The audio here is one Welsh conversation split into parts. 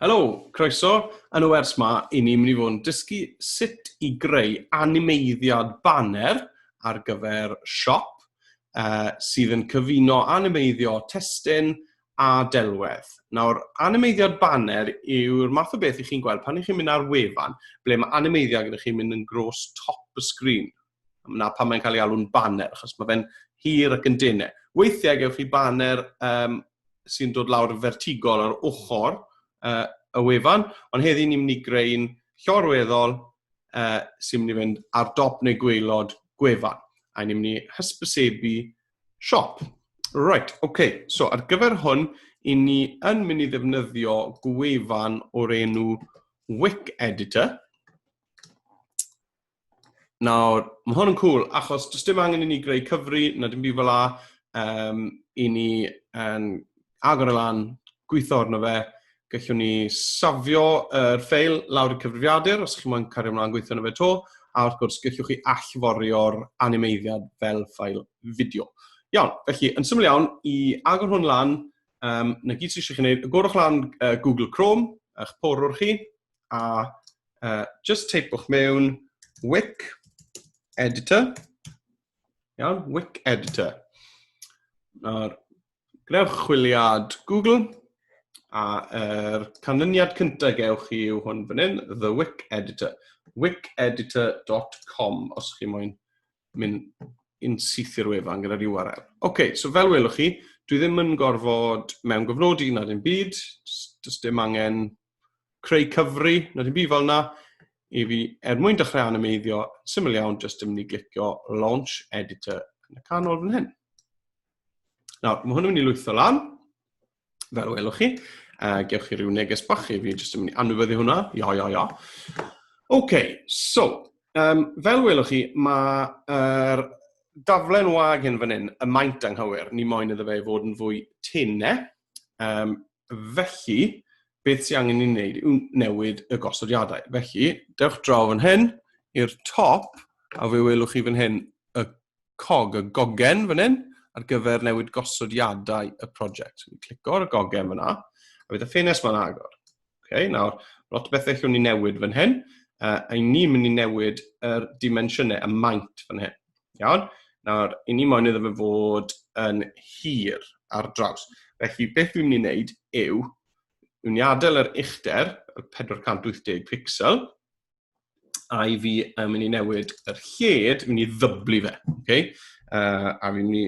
Helo, croeso. Yn y wers ma, i ni mynd i fod yn dysgu sut i greu animeiddiad banner ar gyfer siop uh, sydd yn cyfuno animeiddio testyn a delwedd. Nawr, animeiddiad banner yw'r math o beth i chi'n gweld pan ych chi'n mynd ar wefan ble mae animeiddiad gyda chi'n mynd yn gros top y sgrin. na pan mae'n cael ei alw'n banner, achos mae fe'n hir ac yn dene. Weithiau gewch chi banner um, sy'n dod lawr yn fertigol ar ochr uh, y wefan, ond heddi ni'n mynd i greu'n llorweddol uh, sy'n mynd i fynd ar dop neu gweilod gwefan, a ni'n mynd i hysbysebu siop. Right, oce, okay. so ar gyfer hwn, i ni yn mynd i ddefnyddio gwefan o'r enw Wick Editor, Nawr, mae hwn yn cool, achos does dim angen i ni greu cyfri, na dim byd fel la, um, i ni yn agor y lan, gweithio arno fe, gallwn ni safio yr er ffeil lawr y cyfrifiadur, os chi'n mwyn cario ymlaen gweithio arno fe to, a wrth gwrs, gallwch chi allforio'r animeiddiad fel ffael fideo. Iawn, felly, yn syml iawn, i agor hwn lan, um, na gyd sydd eisiau chi wneud, agorwch lan uh, Google Chrome, a'ch porwr chi, a uh, just teipwch mewn wic editor. Iawn, wic editor. Nawr, gwnewch chwiliad Google, a yr er canlyniad cyntaf gewch chi yw hwn fan hyn, The Wic Editor, wiceditor.com, os chi moyn mynd yn syth i'r wefan gyda'r URL. OK, so fel welwch chi, dwi ddim yn gorfod mewn gofnodi nad yn byd, does dim angen creu cyfri, na dim byd fel yna, i fi, er mwyn dechrau animeiddio, syml iawn, jyst yn mynd i glicio Launch Editor yn y canol fan hyn. Nawr, mae hwn yn mynd i lwytho lan, fel welwch chi, a gewch chi rhyw neges bach i fi, jyst yn mynd i anwybyddu hwnna, ia, ia, ia. OK, so, um, fel welwch chi, mae'r er daflen wag hyn fan hyn, y maint anghywir, ni moyn iddo fe fod yn fwy tynne, Um, felly, beth sy'n angen i wneud yw newid y gosodiadau. Felly, dewch draw fan hyn i'r top, a fe welwch chi fan hyn y cog, y gogen fan hyn, ar gyfer newid gosodiadau y prosiect. Clico ar y gogen fyna, a bydd y ffenest ma'n agor. Okay, nawr, lot o bethau llwn ni newid fan hyn. Uh, I ni'n mynd i newid yr er dimensiynau, y maint fan hyn. Iawn? Nawr, i ni moyn iddo fe fod yn hir ar draws. Felly, beth dwi'n mynd i wneud yw, dwi'n i adael yr uchder, y 480 pixel, a i fi yn mynd i newid yr lled, mynd i ddyblu fe. Okay? Uh, a fi'n mynd i,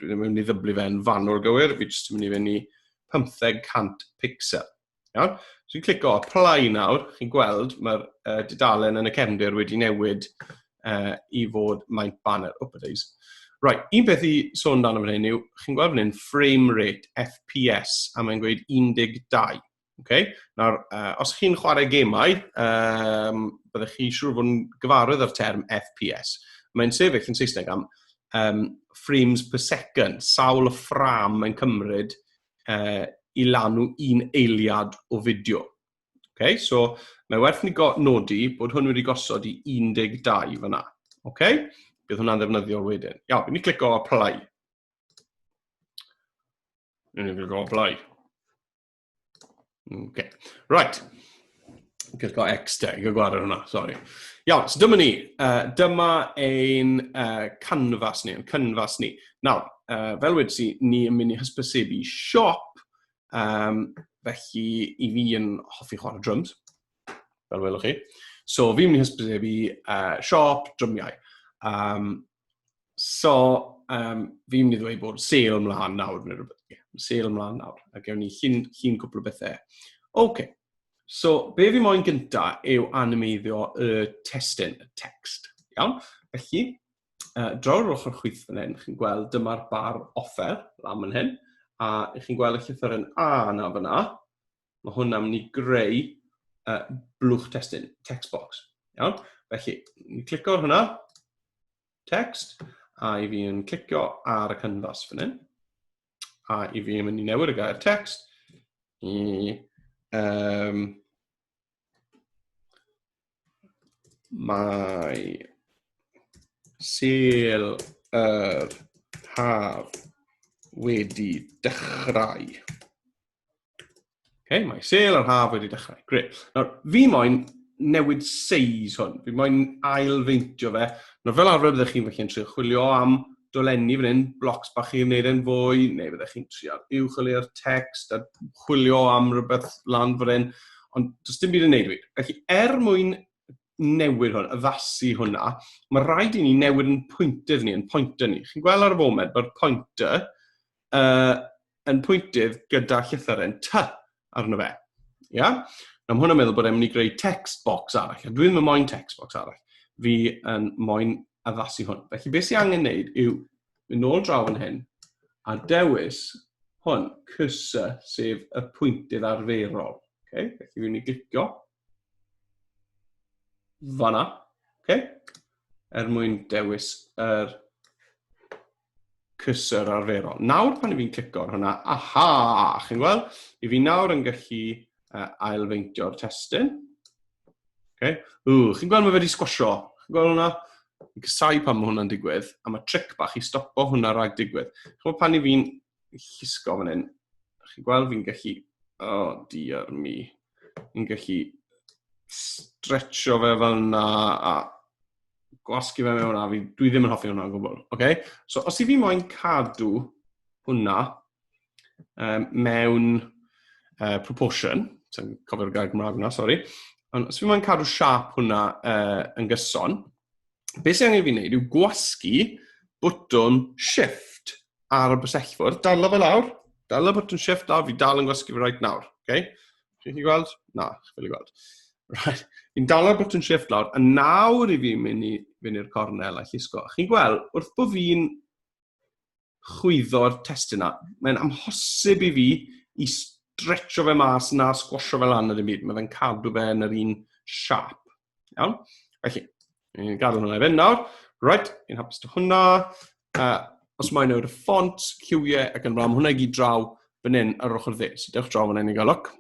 dwi'n mynd i ddyblu fe yn fanwl gywir, fi jyst yn mynd i fynd i 1500 pixel. Iawn? So fi'n clico apply nawr, chi'n gweld mae'r uh, dudalen yn y cefndir wedi newid uh, i fod maint banner. Oh, days. Right, un beth i sôn dan fan hyn yw, chi'n gweld fan hyn, frame rate, FPS, a mae'n gweud 12. Okay? Nawr, uh, os chi'n chwarae gemau, um, byddwch chi siŵr fod yn gyfarwydd â'r term FPS. Mae'n sefyll yn Saesneg am um, frames per second, sawl y ffram mae'n cymryd uh, i lanw un eiliad o fideo. Okay? So, mae werth ni nodi bod hwn wedi gosod i 12 fyna. Okay? Bydd hwnna'n ddefnyddiol wedyn. Iawn, ni clico apply. Ni'n clico apply. Okay. Right. Just got X there. You've got it hwnna, sorry. Iawn, so dyma ni. Uh, dyma ein uh, canfas ni, ein canfas ni. Nawr, uh, fel wedi si, ni yn mynd i hysbysebu siop, um, felly i fi yn hoffi chwarae drums, fel welwch chi. So fi'n mynd i hysbysebu uh, siop drymiau. Um, So, um, fi'n mynd i ddweud bod sale ymlaen nawr, neu rhywbeth. Yeah, sale ymlaen nawr, a gewn ni chi'n chi cwpl o bethau. Oce, okay. so be fi moyn gynta yw animeiddio y testyn, y text. Iawn, felly, uh, draw'r ochr chwith fan hyn, chi'n gweld dyma'r bar offer, lan fan hyn, a chi'n gweld y llythyr yn A na fyna, mae hwn am ni greu uh, blwch testyn, text box. Iawn, felly, ni clico ar hwnna, text, a i fi yn clicio ar y canfas fan hyn, a i fi yn mynd i newid y gair text i um, mae sel yr haf wedi dechrau. Okay, mae sel yr haf wedi dechrau. Gret. Nawr, fi moyn newid seis hwn. Fi moyn ailfeintio fe. Nawr, fel arfer byddwch chi'n felly'n trio chwilio am dolenni fan hyn, blocs bach i'n neud e'n fwy, neu byddwch chi'n trio uwch o le'r text a chwilio am rhywbeth lan fan hyn. Ond does dim byd yn neud wir. Felly, er mwyn newid hwn, addasu hwnna, mae rhaid i ni newid yn pwyntydd ni, yn pointer ni. Chi'n gweld ar y foment, mae'r pointer uh, yn pwyntydd gyda llythyren ty arno fe. Ia? Na, mae hwnna'n meddwl bod e'n mynd i greu text box arall. A dwi'n mynd moyn text box arall. Fi yn moyn addasu hwn. Felly, beth sy'n angen neud yw mynd nôl draw yn hyn a dewis hwn, cursor, sef y pwyntydd arferol. Okay? Felly, fi'n mynd i glicio fanna. Okay? Er mwyn dewis yr er cursor arferol. Nawr pan i fi'n clico ar hwnna, aha, chi'n gweld? I fi nawr yn gallu uh, ailfeintio'r testyn. Okay. Ww, chi'n gweld mae wedi sgwasio? Chi'n gweld hwnna? Fi'n cysau pan mae hwnna'n digwydd, a mae tric bach i stopo hwnna rhag digwydd. Chi'n gweld pan i fi'n llusgo fan hyn, chi'n gweld fi'n gallu, o, oh, diar mi, fi'n gallu stretcho fe fel yna, a gwasgu fe mewn a fi, dwi ddim yn hoffi hwnna o gwbl. Okay? So os i fi moyn cadw hwnna um, mewn uh, proportion, sy'n cofio'r gair Gymraeg hwnna, sori, ond os fi moyn cadw siap hwnna uh, yn gyson, beth sy'n angen fi wneud yw gwasgu bwtwn shift ar y bysellfwrdd, dal o fe lawr, dal o bwtwn shift lawr, fi dal yn gwasgu fe right nawr. Okay? Chi'n chi gweld? Na, chi'n ffili gweld. Right. Fi'n dalo'r button shift lawr, a nawr i fi mynd i fynd i'r cornel a llusgo. Chi'n gweld, wrth bod fi'n chwyddo'r testyn na, mae'n amhosib i fi i stretcho fe mas na sgwasio fe lan yr un byd. Mae fe'n cadw fe yn yr un siap. Iawn? Felly, ni'n gadael hwnna i fynd nawr. Right, ni'n hapus to hwnna. Uh, os mae'n newid y ffont, lliwiau ac yn fram, hwnna i gyd draw fan hyn ar ochr dde. So dewch draw fan hyn i gael look.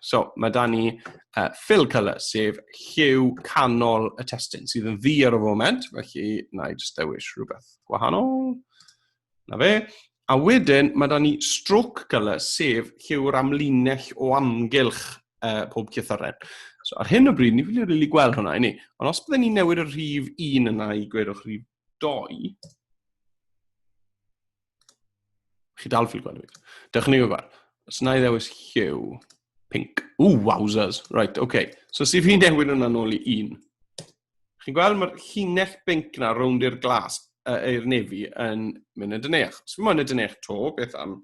So mae da ni uh, fill colour, sef lliw canol y testyn, sydd yn ddi ar y foment, felly na i just dewis rhywbeth gwahanol. Na fe. A wedyn, mae da ni stroke colour, sef lle yw'r amlinell o amgylch uh, pob cythoren. So, ar hyn o bryd, ni ffili rili gweld hwnna i ni. Ond os byddwn ni'n newid y rhif 1 yna i gwedwch rhif 2, chi dal ffili gweld fi. Dewch ni gwybod. Os yna i ddewis hue, pink. Ooh, wowzers. Right, okay. So, sef fi'n newid hwnna nôl i 1. Chi'n gweld, mae'r llinell binc na rownd i'r glas, uh, i'r nefi, yn mynd yn dyneach. Os mae'n yn dyneach to, beth am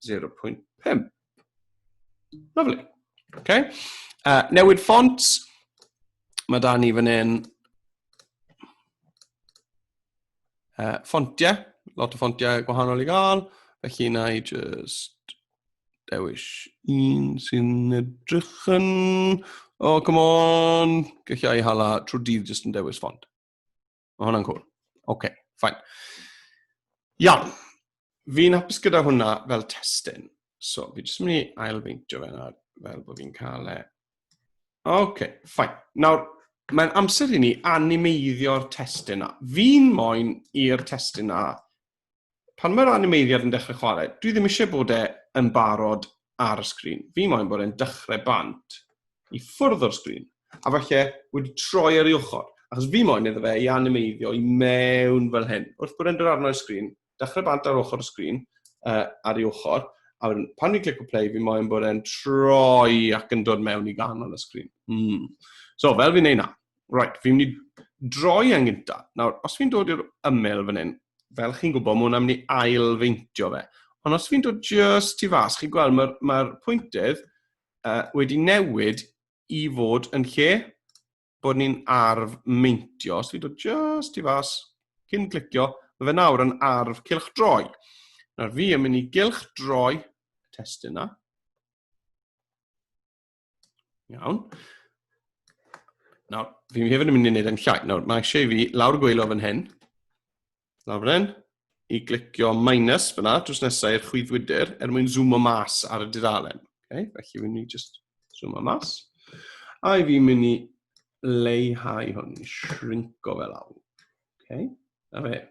0.5? Lovely. Okay. Uh, newid ffont. Mae da ni fan hyn. Uh, ffontiau. Lot o ffontiau gwahanol i gael. Felly na i just dewis un sy'n edrych yn... O, oh, come on! Gallai i hala trwy dydd jyst yn dewis ffond. Mae hwnna'n cool. Oce, okay, ffain. Iawn. Fi'n hapus gyda hwnna fel testyn. So, fi jyst yn mynd i ail feintio fe nawr, fel bod fi'n cael e. Oce, okay, ffain. Nawr, mae'n amser i ni animeiddio'r testyn na. Fi'n moyn i'r testyn na pan mae'r animeiddiad yn dechrau chwarae, dwi ddim eisiau bod e yn barod ar y sgrin. Fi moyn bod e'n dechrau bant i ffwrdd o'r sgrin, a falle wedi troi ar ei ochr, achos fi moyn iddo fe i animeiddio i mewn fel hyn. Wrth bod e'n dod arno i'r sgrin, dechrau bant ar ochr y sgrin, uh, ar ei ochr, a wedyn pan fi'n clicio play, fi moyn bod e'n troi ac yn dod mewn i ganol y sgrin. Mm. So, fel fi'n neud na, Right, fi'n mynd i droi yn gynta. Nawr, os fi'n dod i'r ymyl fan hyn, fel chi'n gwybod, mae hwnna'n mynd i ail feintio fe. Ond os fi'n dod just i fas, chi'n gweld mae'r mae pwyntydd uh, wedi newid i fod yn lle bod ni'n arf meintio. Os fi'n dod just i fas, cyn clicio, mae fe nawr yn arf cilch droi. Nawr fi yn mynd i gilch droi testyn yna. Iawn. Nawr, fi hefyd yn mynd i wneud yn llai. Nawr, mae eisiau i fi lawr gweilo fan hyn. Lawr fan hyn. I glicio minus fyna, drws nesau i'r chwyddwydr, er mwyn zoomo mas ar y dudalen. Okay? Felly, fi'n mynd i just zoomo mas. A i fi'n mynd i leihau hwn, shrinko fe lawr. Okay? Na fe.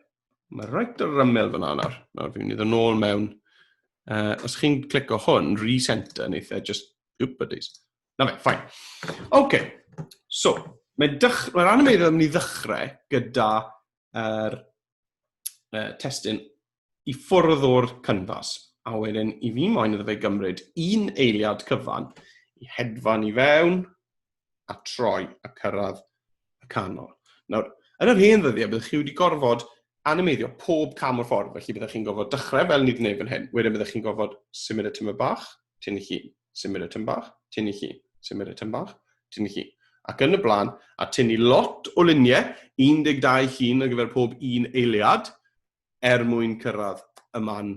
Mae rhaid yr ymyl fyna nawr. Nawr fi'n mynd i ddod nôl mewn. Uh, os chi'n clico hwn, recenter, neu eitha, just, oop, buddies. Na fe, ffain. OK, so, mae'n dych... mae rhan yma yn mynd i ddechrau gyda er, uh, testyn i ffwrdd o'r canfas. A wedyn, i fi moyn iddo fe gymryd un eiliad cyfan i hedfan i fewn, a troi a cyrraedd y canol. Nawr, yn yr hen ddyddiau, byddwch chi wedi gorfod animeiddio pob cam o'r ffordd, felly byddwch chi'n gorfod dechrau fel ni wedi gwneud fan hyn, wedyn byddwch chi'n gorfod symud y tymor bach, tyn i chi, symud y tymor bach, tyn i chi, symud y tymor bach, tyn i chi, ac yn y blaen, a tynnu lot o luniau, 12 llun ar gyfer pob un eiliad, er mwyn cyrraedd y man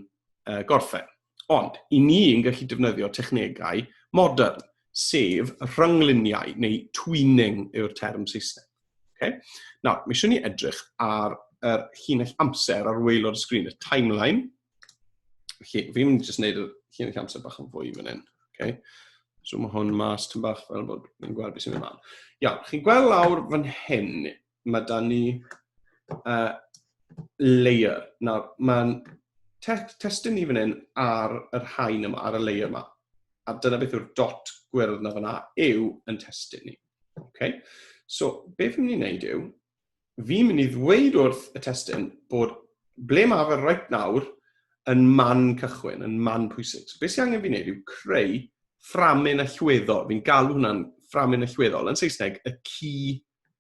uh, gorffen. Ond, i ni yn gallu defnyddio technegau modern, sef rhyngluniau neu twinning yw'r term Saesneg. Okay? Nawr, mae eisiau ni edrych ar yr er llinell amser ar waelod y sgrin, y timeline. Felly, fi'n mynd i jyst gwneud y llinell amser bach yn fwy fan hyn. Okay? So mae hwn mas tyn bach fel bod yn gweld beth sy'n mynd ymlaen. Iawn, chi'n gweld lawr fan hyn, mae da ni uh, layer. Nawr, mae'n te testyn ni fan hyn ar yr hain yma, ar y layer yma. A dyna beth yw'r dot gwyrdd na fyna yw yn testyn ni. Okay? So, be fi'n mynd i wneud yw, fi'n mynd i ddweud wrth y testyn bod ble mae fe right nawr yn man cychwyn, yn man pwysig. So, beth sy'n angen fi'n gwneud yw creu fframyn allweddol. Fi'n galw hwnna'n fframyn allweddol. Yn Saesneg, y key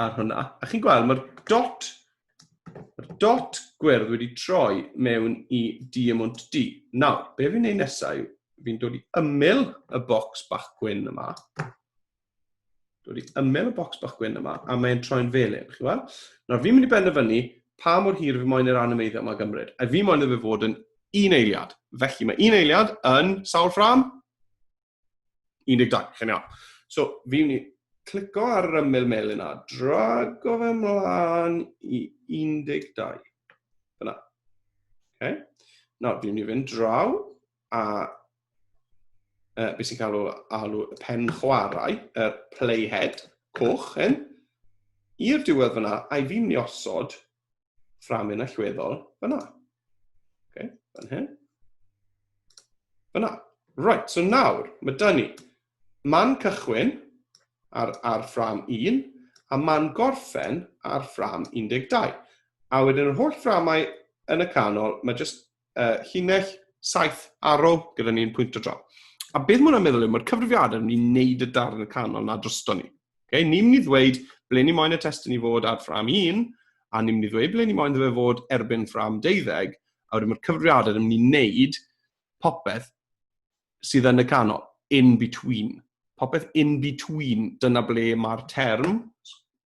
ar hwnna. A chi'n gweld, mae'r dot, mae'r dot gwyrdd wedi troi mewn i diamwnt D. Nawr, be fi'n neud nesau, fi'n dod i ymyl y bocs bach gwyn yma. Dod i ymyl y bocs bach gwyn yma, a mae'n troi'n felyn, chi weld? Nawr, fi'n mynd i benderfynu pa mor hir fi moyn yr animeiddio yma gymryd. A fi moyn iddo fe fod yn un eiliad. Felly, mae un eiliad yn sawl ffram? 12, chi'n iawn. So, fi'n mynd i clico ar yr ymyl melyn a drago fe mlaen i 12. Fyna. Okay. Nawr, fi'n mynd i fynd draw a uh, beth sy'n cael alw y pen chwarae, y playhead coch hyn, i'r diwedd fyna, a'i fi'n mynd i osod fframyn allweddol fyna. Okay, fan hyn. Fyna. Right, so nawr, mae dyn ni man cychwyn ar, ar ffram 1 a man gorffen ar ffram 12. A wedyn yr holl fframau yn y canol, mae jyst uh, llinell, saith, arrow, gyda ni'n pwynt o dro. A beth mwyn am meddwl yw, mae'r cyfrifiadau yn mynd i wneud y darn y canol na drosto ni. Okay? Ni'n mynd i ddweud ble ni moyn y testyn i fod ar ffram 1, a ni'n mynd i ddweud ble ni moyn ddefa fod erbyn ffram 12, a wedyn mae'r cyfrifiadau yn mynd i wneud popeth sydd yn y canol, in between. Popeth in between, dyna ble mae'r term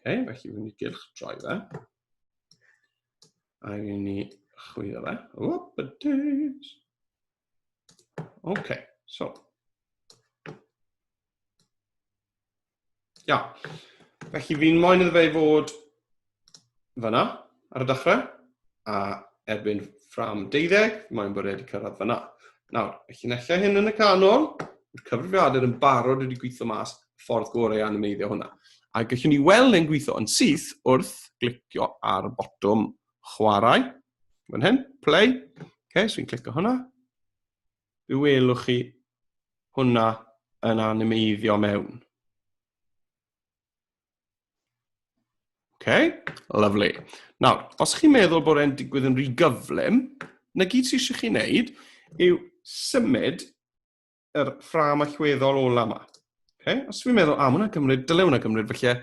Okay, felly fi'n mynd i gylch droi fe. A fi'n mynd i chwilio fe. Whoop a days. Okay, so. Ia. Felly fi'n moyn iddo fe i fod fyna ar y dechrau, a erbyn ffram 12, mae'n bod wedi cyrraedd fyna. Nawr, y llunellau hyn yn y canol, mae'r cyfrifiadur yn barod wedi gweithio mas ffordd gorau animeiddio hwnna. A gallwn ni weld e'n gweithio yn syth wrth glicio ar y botwm chwarae. Fan hyn, play. Okay, so i'n clicio hwnna. Fe welwch chi hwnna yn animeiddio mewn. OK, lovely. Nawr, os chi'n meddwl bod e'n digwydd yn rhy gyflym, na gyd sy'n eisiau chi wneud yw symud yr ffram allweddol ola yma. Okay? Os fi'n meddwl, a, hwnna gymryd, dylai hwnna gymryd felly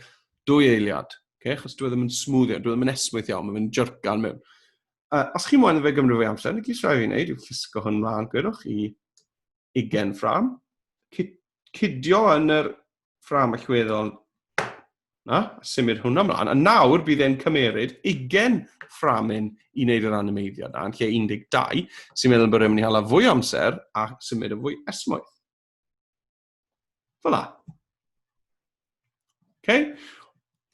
dwy eiliad. Okay? Chos dwi e ddim yn smwddio, dwi e ddim yn esmwyth iawn, mae'n mynd jyrcan mewn. Uh, os chi'n mwyn fe gymryd fwy amser, na gyd sy'n rhaid fi'n gwneud yw llusgo hwn mlaen, gwedwch i 20 ffram, cydio yn yr ffram allweddol na, symud hwnna mlaen. A nawr bydd e'n cymeryd 20 fframyn i wneud yr animeiddio na, yn lle 12, sy'n meddwl bod e'n mynd i hala fwy amser a symud yn fwy esmwyth. Fyla. Okay?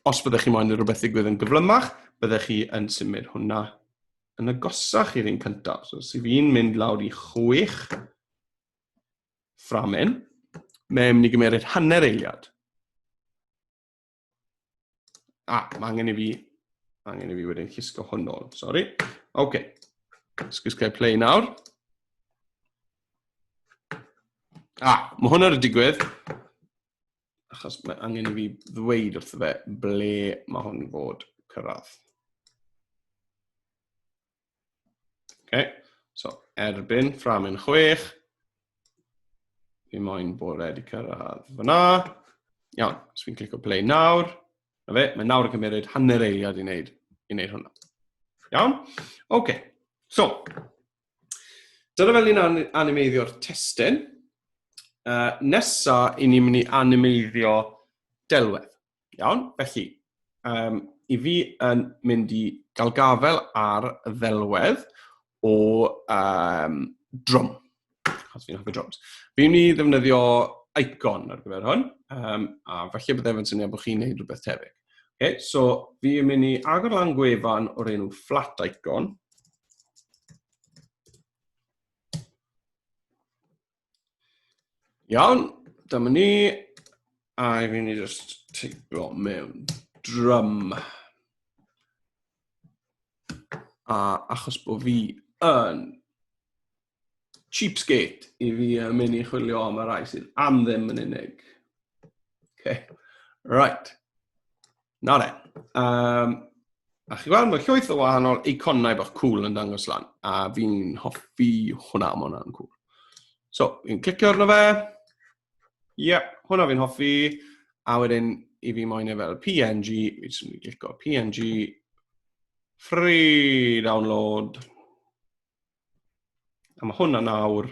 Os byddwch chi moyn i rhywbeth ddigwydd yn gyflymach, byddwch chi yn symud hwnna yn agosach i'r un cyntaf. So, os fi'n mynd lawr i chwech, fframyn, mae'n mynd i gymeriad hanner eiliad. A, ah, mae angen i fi, mae angen i fi wedyn llusgo hwn ôl, sori. Oce, okay. Sgwys gael play nawr. A, ah, mae hwnna wedi digwydd. Achos mae angen i fi ddweud wrth fe ble mae hwn fod cyrraedd. Ok, so erbyn ffram yn chwech. Fi moyn bod wedi cyrraedd fyna. Iawn, os fi'n clico play nawr. Na fe, mae nawr yn cymryd hanner eiliad i wneud, i wneud hwnna. Iawn? Ok, so. Dyna fel ni'n an animeiddio'r testyn. Uh, nesa, i ni'n mynd i animeiddio delwedd. Iawn, felly, um, i fi yn mynd i gael gafel ar ddelwedd o um, drum. Os fi'n hoffi drums. Fi'n mynd i ddefnyddio icon ar gyfer hwn, um, a felly byddai fe'n syniad bod chi'n gwneud rhywbeth tebyg. Okay, so fi'n mynd i agor lan gwefan o'r enw flat icon, Iawn, dyma ni. A i fi ni just teipio mewn drum. A achos bod fi yn cheapskate i fi yn mynd i chwilio am y rai sydd am ddim yn unig. Okay. Right. Na re. Um, a chi gweld, mae llwyth o wahanol eiconau bach cool yn dangos lan, a fi'n hoffi hwnna, mae hwnna'n cool. So, fi'n clicio arno fe. Ie, yeah, hwnna fi'n hoffi. A wedyn, i fi moyn e fel PNG, fi jyst yn clicio PNG, free download. A mae hwnna nawr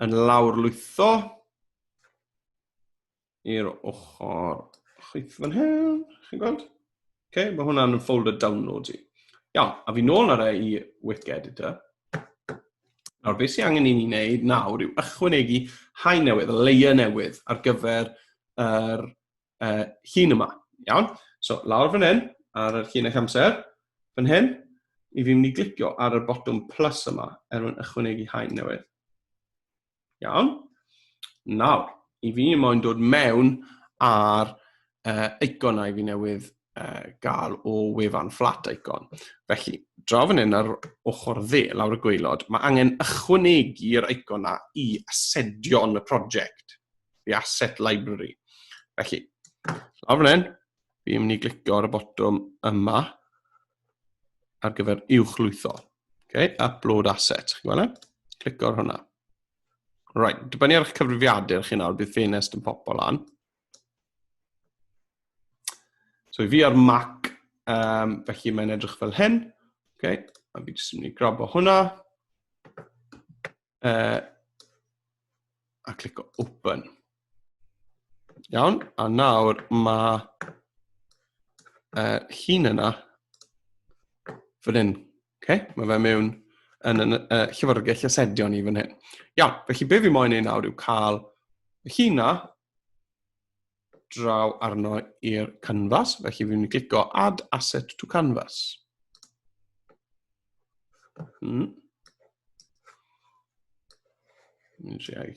yn lawr lwytho. i'r ochr chwith fan hyn, chi'n gweld? Okay, mae hwnna'n folder download i. Iawn, a fi nôl ar e i Wiki Editor. Nawr, beth sy'n angen i ni wneud nawr yw ychwanegu hain newydd, layer newydd ar gyfer yr uh, llun yma. Iawn? So, lawr fan hyn, ar yr llun eich amser, fan hyn, i fi'n mynd i glicio ar y botwm plus yma, er mwyn ychwanegu hain newydd. Iawn? Nawr, i fi moyn dod mewn ar uh, icon a i fi newydd uh, gael o wefan flat icon. Felly, draw fan hyn ar ochr dde, lawr y gweilod, mae angen ychwanegu'r icon na i asedion y prosiect, the asset library. Felly, lawr fan hyn, fi'n mynd i glicio ar y botwm yma, ar gyfer uwchlwytho. Okay, upload asset, chi'n gweld e? Clico ar hwnna. Right, dibynnu ar eich cyfrifiadur chi nawr, bydd ffenest yn popo lan. So i fi ar Mac, um, felly mae'n edrych fel hyn. Okay, a fi jyst yn mynd i grabo hwnna. Uh, a clico open. Iawn, a nawr mae uh, hun yna fan hyn. Okay? Mae fe mewn yn y uh, llyfrgell asedion i fan hyn. Iawn, felly be fi moyn ei nawr yw cael y hun na draw arno i'r canvas, felly fi'n mynd i glicio Add Asset to Canvas. Hmm. Mynd i ai.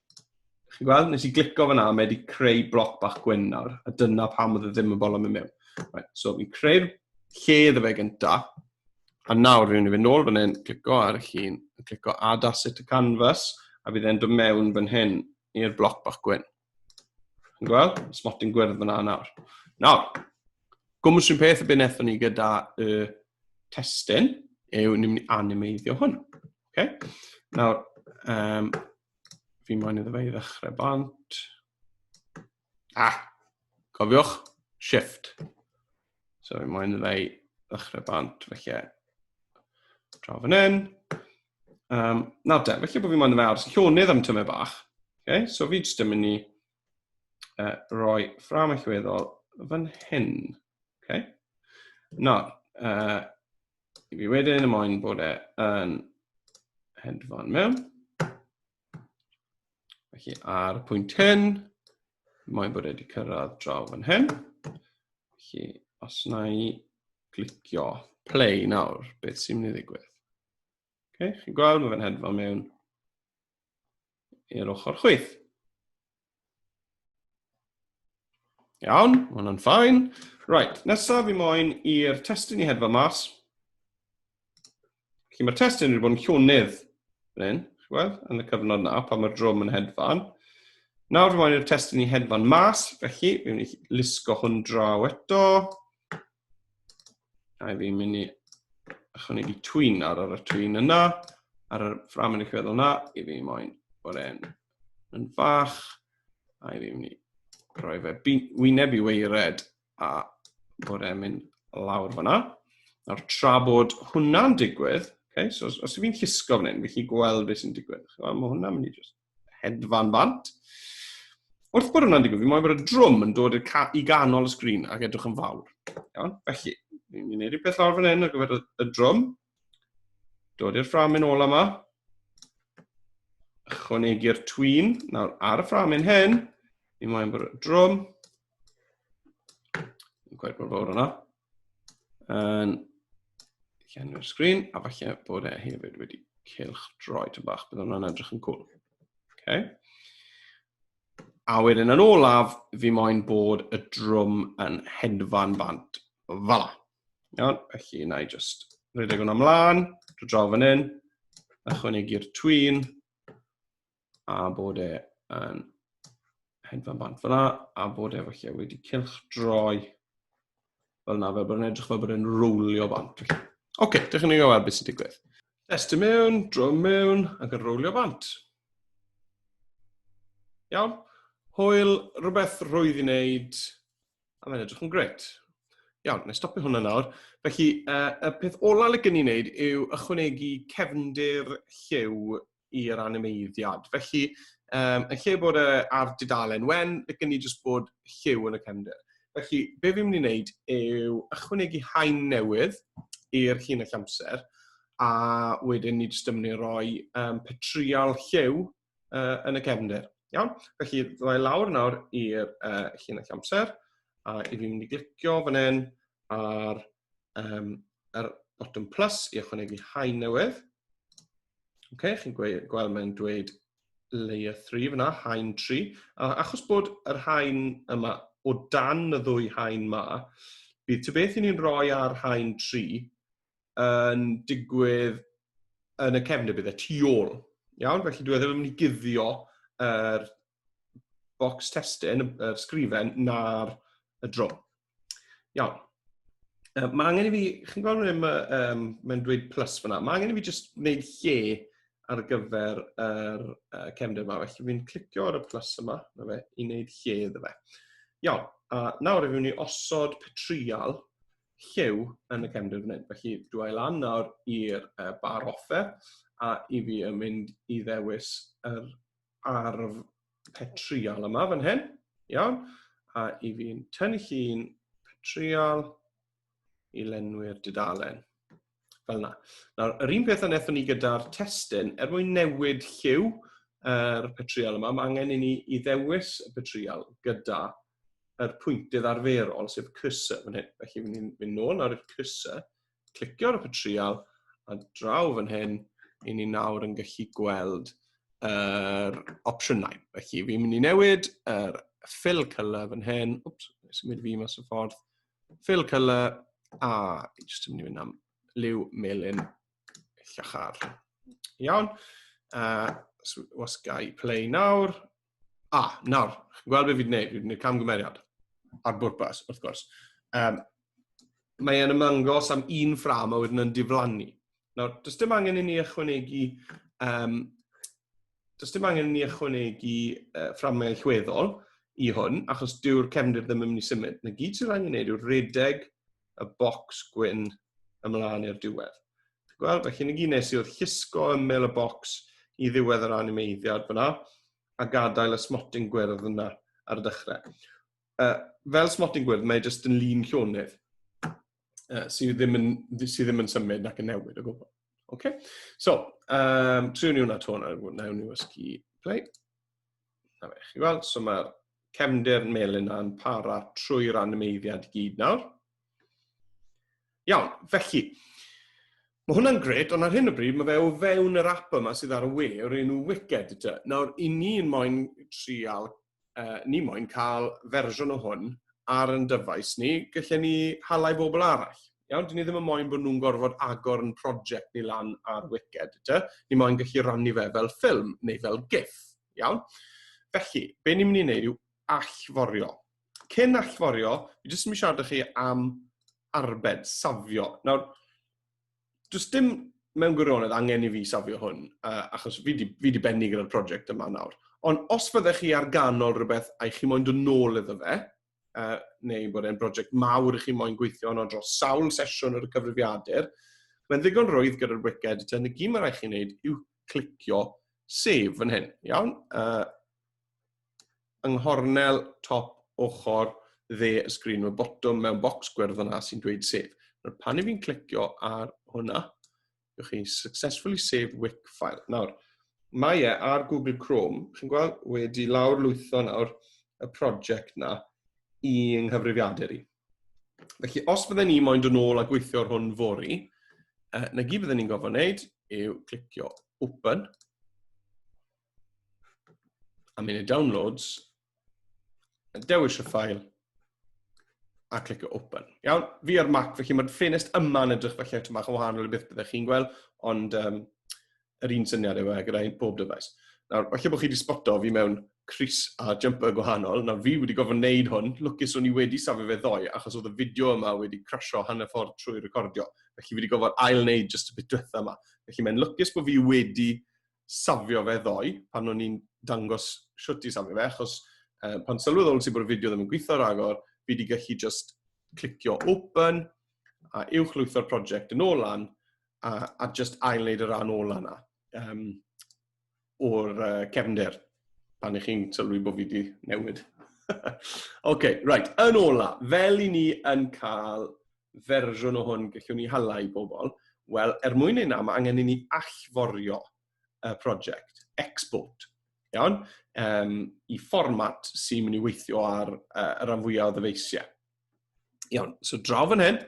Chi'n gweld? Nes i glico fyna, mae wedi creu bloc bach gwyn nawr, a dyna pam oedd e ddim yn bol am y mewn. Right, so fi'n creu'r lle iddo fe gynta, a nawr fi'n mynd i fynd nôl fan hyn, clico ar y llun, a clico add asset to canvas, a bydd e'n dod mewn fan hyn i'r bloc bach gwyn. Chi'n gweld? Smotyn gwyrdd fyna nawr. Nawr, gwmwys rhywun peth y byd nethon ni gyda y testyn, yw ni'n mynd i animeiddio hwn. Okay? Nawr, um, fi moyn iddo fe i ddechrau bant. Ah, cofiwch, shift. So fi moyn iddo fe i ddechrau bant, felly draw fan hyn. Um, nawr te, felly bod fi moyn iddo fe aros llonydd am tymau bach. Okay? So fi jyst yn mynd i uh, roi ffram allweddol fan hyn. Okay? Nawr, uh, i fi wedyn, y moyn bod e yn hedfan mewn. Felly ar y pwynt hyn, moyn bod e wedi cyrraedd draw fan hyn. Felly os na i glicio play nawr, beth sy'n mynd i ddigwydd? Okay, chi'n gweld, mae fe'n hedfan mewn i'r ochr chwyth. Iawn, mae hwnna'n ffain. Right, nesaf fi moyn i'r testyn i hedfa mas. Felly mae'r testyn wedi bod yn llwnydd yn hyn, yn y cyfnod na, pan mae'r drwm yn hedfan. Nawr fi moyn i'r testyn i hedfan mas, felly fi'n mynd i lusgo hwn draw eto. Rhaid fi mynd i ychwanegu twyn ar yr twyn yna, ar yr ffram yn eich feddwl yna, i fi moyn bod e'n yn fach, a i fi mynd i roi fe wyneb i weired a bod e'n mynd lawr fyna. Nawr tra bod hwnna'n digwydd, okay, so os, os fi'n llusgo fan hyn, fi'n chi gweld beth sy'n digwydd. Mae hwnna'n mynd i just hedfan bant. Wrth bod hwnna'n digwydd, fi moyn bod y drwm yn dod i ganol y sgrin ac edrych yn fawr. Iawn, felly, ni'n mynd i wneud rhywbeth lawr fan hyn ar gyfer y drwm. Dod i'r ffram yn ôl yma. Ychwanegu'r twin. Nawr, ar y ffram yn hyn, ni'n moyn bod y drwm. Yn gwaith bod fawr yna. Yn llenwi'r sgrin, a falle bod e hefyd wedi cilch droi tyn bach, bydd hwnna'n edrych yn cwl. Okay. A wedyn yn olaf, fi moyn bod y drwm yn hedfan bant. Fala. Iawn, felly na i just rhedeg hwnna mlaen, drwy draw fan hyn, ychwanegu'r twyn, a bod e yn hedfan bant fel yna, a bod e felly wedi cylch droi fel yna, fel bod yn edrych fel bod e'n rowlio bant. Oce, okay, dych chi'n ei gael beth sy'n digwydd. Testio mewn, dro mewn, ac yn rowlio bant. Iawn? Hwyl, rhywbeth rwydd i wneud, a mae'n edrych yn gret. Iawn, nes stopio hwnna nawr. Felly, uh, y peth olaf le gen i wneud yw ychwanegu cefndir lliw i'r animeiddiad. Felly, um, yn lle bod e ar dudalen wen, licen ni jyst bod lliw yn y cefndir. Felly, be fi'n mynd i wneud yw ychwanegu hain newydd i'r llinell amser, a wedyn ni jyst yn mynd i roi um, petrial lliw uh, yn y cefndir. Iawn? Felly, ddau lawr nawr i'r uh, llinell amser, a i fi'n mynd i glicio fan hyn ar um, yr botwm plus i ychwanegu haen newydd. Okay, chi'n gweld mae'n dweud layer 3 fyna, haen 3. A achos bod yr haen yma o dan y ddwy haen ma, bydd ty beth i ni'n rhoi ar haen 3 yn digwydd yn y cefnau bydd y tu ôl. Iawn, felly dwi e ddim yn mynd i guddio yr bocs testyn, y sgrifen, na'r y dro. Iawn. Uh, mae angen i fi, chi'n gweld rhywun yma, um, mae'n dweud plus fyna, mae angen i fi jyst wneud lle ar gyfer yr uh, cefnder yma. Felly fi'n clicio ar y plus yma, na fe, i wneud lle iddo fe. Iawn, a nawr efe ni osod petrial llew yn y cefnder fan hyn. Felly dwi ail lan nawr i'r uh, bar offer a i fi yn mynd i ddewis yr arf petriol yma fan hyn. Iawn. A i fi'n tynnu llun petriol i lenwi'r dudalen. Fel yna. Nawr, yr un peth a wnaethon ni gyda'r testyn, er mwyn newid lliw yr er petriol yma, mae angen i ni i ddewis y petriol gyda yr pwyntydd arferol, sef cursor fan hyn. Felly, fi'n mynd nôl nawr i'r cursor, clicio ar y patrial a draw fan hyn, i ni nawr yn gallu gweld yr er opsiynau. Felly, fi'n mynd i newid yr er fill colour fan hyn. Wps, nes i mynd fi mas o ffordd. Fill colour, a jyst yn mynd i fynd am liw melin llachar. Iawn. Uh, so, was gai play nawr. A, ah, nawr, chi'n gweld beth fi'n gwneud, fi'n gwneud camgymeriad ar bwrpas, wrth gwrs. Um, mae e'n ymangos am un ffram a wedyn yn diflannu. Nawr, does dim angen i ni ychwanegu, um, does dim angen i ni ychwanegu uh, fframau allweddol i hwn, achos dyw'r cefndir ddim yn mynd i symud. Na gyd sy'n rhaid i ni wneud yw'r redeg y bocs gwyn ymlaen i'r diwedd. Ti'n gweld? Felly, ni gyd nes i oedd llusgo ymyl y bocs i ddiwedd yr animeiddiad fyna, a gadael y smotyn gwyrdd yna ar y dechrau. Uh, fel smotyn gwyrdd, mae jyst yn lun llonydd uh, sydd, ddim yn, sydd ddim yn symud nac yn newid o gwbl. Okay? So, um, triwn ni hwnna to nawr, nawr ni ysgu play. Na fe, chi weld, so mae'r cefndir melyn na'n para trwy'r animeiddiad i gyd nawr. Iawn, felly, mae hwnna'n gred, ond ar hyn o bryd mae fe o fewn yr app yma sydd ar y we o'r enw Wicked ydy. Nawr, i ni'n moyn trial, uh, ni moyn cael fersiwn o hwn ar yn dyfais ni, gallai ni halai bobl arall. Iawn, dyn ni ddim yn moyn bod nhw'n gorfod agor yn prosiect ni lan ar Wicked, dy. Ni moyn gallu rannu fe fel ffilm neu fel gif, iawn? Felly, be ni'n mynd i wneud yw allforio. Cyn allforio, fi jyst yn mynd siarad chi am arbed, safio. Nawr, does dim mewn gwirionedd angen i fi safio hwn, uh, achos fi di, fi di benni gyda'r prosiect yma nawr. Ond os fyddech chi ar ganol rhywbeth a'i chi moyn dod nôl iddo fe, uh, neu bod e'n brosiect mawr i chi moyn gweithio yno dros sawl sesiwn ar y cyfrifiadur, mae'n ddigon rwydd gyda'r wiced, y tyn y gym mae rhaid chi'n neud yw clicio sef yn hyn, iawn? Uh, yng nghornel top ochr dde y sgrin, mae botwm mewn bocs gwyrdd yna sy'n dweud sef. Nawr, pan i fi'n clicio ar hwnna, Ywch chi successfully save wick file. Nawr, mae e ar Google Chrome, chi'n gweld, wedi lawr lwytho nawr y prosiect na i yng nghyfrifiadur i. Felly, os bydden ni moyn dod ôl a gweithio ar hwn fori, uh, na gyd bydden ni'n gofod wneud yw clicio open, a mynd i downloads, Dewis y ffael a clic o open. Iawn, fi ar Mac, felly mae'r ffenest yma yn edrych felly eto bach o wahanol i beth byddech chi'n gweld, ond um, yr un syniad yw e gyda bob dyfais. Nawr, felly bod chi wedi sboto fi mewn Chris a jumper gwahanol, nawr fi wedi gofyn wneud hwn, lwcus o'n i wedi safio fe ddoe, achos oedd y fideo yma wedi crasio hanner ffordd trwy recordio, felly fi wedi gofyn ail wneud just y bit diwetha yma. Felly mae'n lwcus bod fi wedi safio fe ddoe, pan o'n i'n dangos shwt i safio fe, achos uh, pan sylweddol sy'n bod y fideo ddim yn gweithio rhagor, fi wedi gallu just clicio open, a uwch lwytho'r prosiect yn ôl lan, a, a just ail-wneud y rhan ôl yna um, o'r uh, cefnder, pan ych chi'n sylwi bod fi wedi newid. OK, right, yn ola, fel i ni yn cael fersiwn o hwn gellwn ni hala i bobl? Wel, er mwyn ei na, mae angen i ni allforio y prosiect, export, iawn, um, i fformat sy'n mynd i weithio ar uh, y rhan fwyaf o ddyfeisiau. Iawn, so draw fan hyn,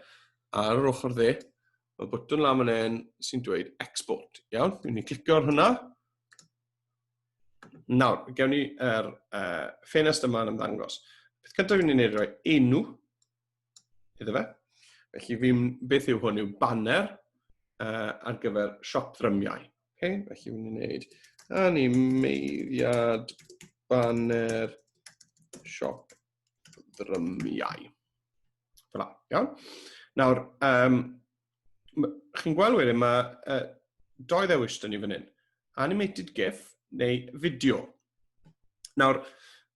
ar yr ochr dde, mae bwtwn lan fan hyn sy'n dweud export. Iawn, dwi'n ni clicio ar hwnna. Nawr, gewn ni yr er, uh, ffenest yma yn ymddangos. Beth cyntaf fi'n ei wneud roi enw iddo fe. Felly fi'n beth yw hwn yw banner uh, ar gyfer siop ddrymiau. Okay? Felly fi'n gwneud animeiddiad banner siop ddrymiau. Fel iawn. Nawr, um, chi'n gweld wedyn, mae uh, doi ddewis dyn ni fan hyn. Animated GIF neu fideo. Nawr,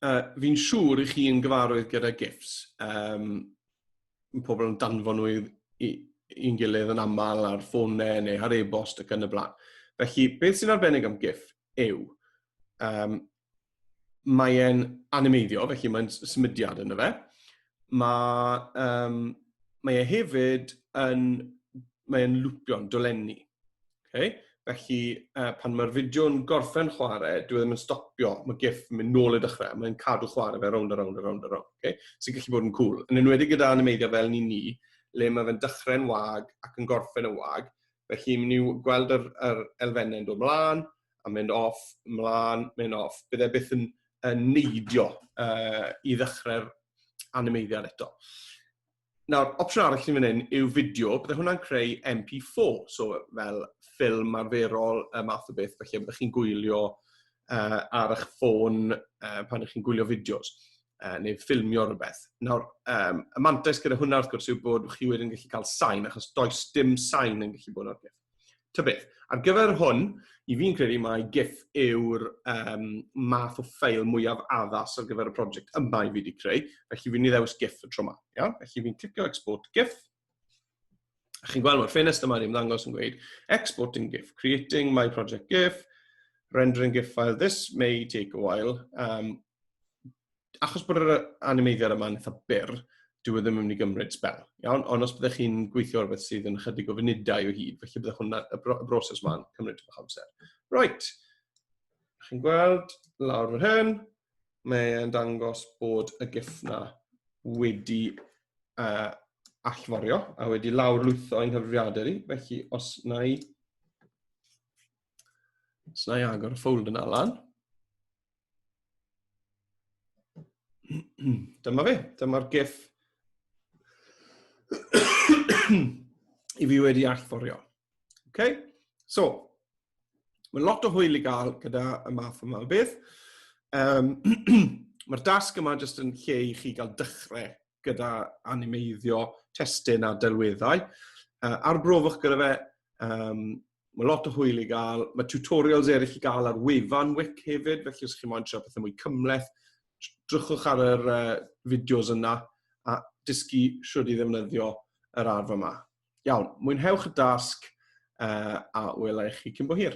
uh, fi'n siŵr i chi yn gyfarwydd gyda GIFs. Um, mae pobl yn danfon nhw i'n gilydd yn aml ar ffonau neu ar e-bost ac yn y blaen. Felly, beth sy'n arbennig am GIF yw, um, mae e'n animeiddio, felly mae'n symudiad yn y fe. Mae, um, mae e hefyd yn, mae e'n lwpio'n dolenni. Okay? Felly, uh, pan mae'r fideo'n gorffen chwarae, dwi e ddim yn stopio, mae gif yn mynd nôl i dechrau, mae'n cadw chwarae fe rownd a rownd a rownd a rownd. Okay? Sy'n gallu bod yn cool. Yn enwedig gyda animeiddio fel ni ni, le mae fe'n dechrau'n wag ac yn gorffen yn wag, felly ni'n gweld yr, yr elfennau'n dod mlaen, a mynd off, mlaen, mynd off. Bydd e byth yn, yn neidio uh, i ddechrau'r animeiddiad eto. Nawr, opsiwn arall sy'n fan hyn yw fideo, bydde hwnna'n creu MP4, so fel ffilm arferol y math o beth, felly byddwch chi'n gwylio uh, ar eich ffôn uh, pan ydych chi'n gwylio fideos uh, neu ffilmio rhywbeth. Nawr, um, y mantais gyda hwnna wrth gwrs yw bod chi wedyn yn gallu cael sain, achos does dim sain yn gallu bod o'r peth. Ta beth, ar gyfer hwn, i fi'n credu mai gif yw'r um, math o ffeil mwyaf addas ar gyfer y prosiect yma i fi wedi creu, felly fi'n ni ddewis gif y tro yma. Iawn? Felly fi'n clicio export gif, a chi'n gweld mae'r ffenest yma ni'n ddangos yn gweud exporting GIF, creating my project GIF, rendering GIF file. This may take a while. Um, achos bod yr animeiddiad yma'n eitha byr, dyw e ddim yn mynd i gymryd spel. Iawn? Ond os byddwch chi'n gweithio ar beth sydd yn ychydig o funudau o hyd, felly byddwch hwnna, y, bro, y broses ma'n cymryd eich amser. Right. Chi'n gweld, lawr fan hyn, mae'n dangos bod y giff na wedi uh, allforio a wedi lawr lwytho yng nghyfrifiadur i. Felly, os na i, os na i agor y ffold yna lan, Dyma fe, dyma'r gif i fi wedi allforio. Okay? So, mae lot o hwyl i gael gyda y math yma o beth. Um, Mae'r dasg yma jyst yn lle i chi gael dechrau gyda animeiddio testyn a delweddau. Uh, arbrofiwch gyda fe, um, Mae lot o hwyl i gael. Mae tutorials eraill i gael ar wefan WIC hefyd, felly os chi'n moyn trio pethau mwy cymleth, drychwch ar yr uh, fideos yna a dysgu siwrd i ddefnyddio yr arf yma. Iawn, mwynhewch y dasg uh, a welai chi cyn bo hir.